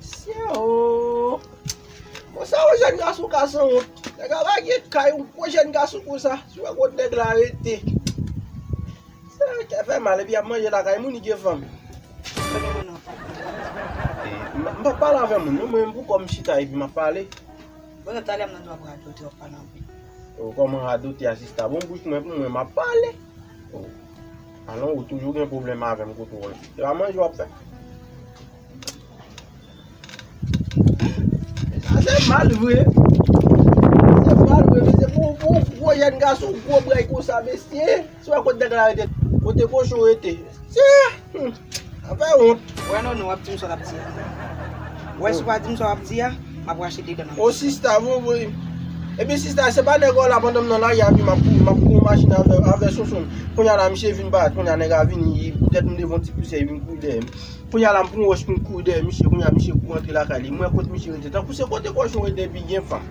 Syeoo Konsa yon jèn gason ka sanwont Nèg a lage kay yon gwo jèn gason konsa Sou wè kot nèg la rete Seyè kè fè mal epi yap manje lakay moun li gen fanm M pap pale avè moun non mwen menm pou kòm m chita epi map pale Bonè talè m nan dwa ap radote wap pale anpil Ou kòman radote a sista bon bouch mwen pou mwen map pale. Alan ou toujou gen pwoblèm avèm kout wòl. Se pa manje wap fè? Sa se mal vre. Sa se mal vre mesye pou ou gwo jèn gason ou gwo bray konsa mesye. Si wè kote nèg la rete kote kochon rete. Tchè! An pa wont. Wè non non wap dim sa wap di a. Wè si wap dim sa wap di a, map rache 2 dan nan bouch. O sista vovoy. Epi sista se pa nèg ou la pandan m nan lari a epi map kouri map pran yon machin avè Sonsonn. Kounya la misye vin paret kounya nèg la vini li tèt m devan ti pousè li vin kouri dèyè m. Kounya la m pran yon wòch pou m kouri dèyè misye kounya misye kou rantre lakay li. M wè kot misye rete. Tankou se kote kòchon rete epi gen fanm.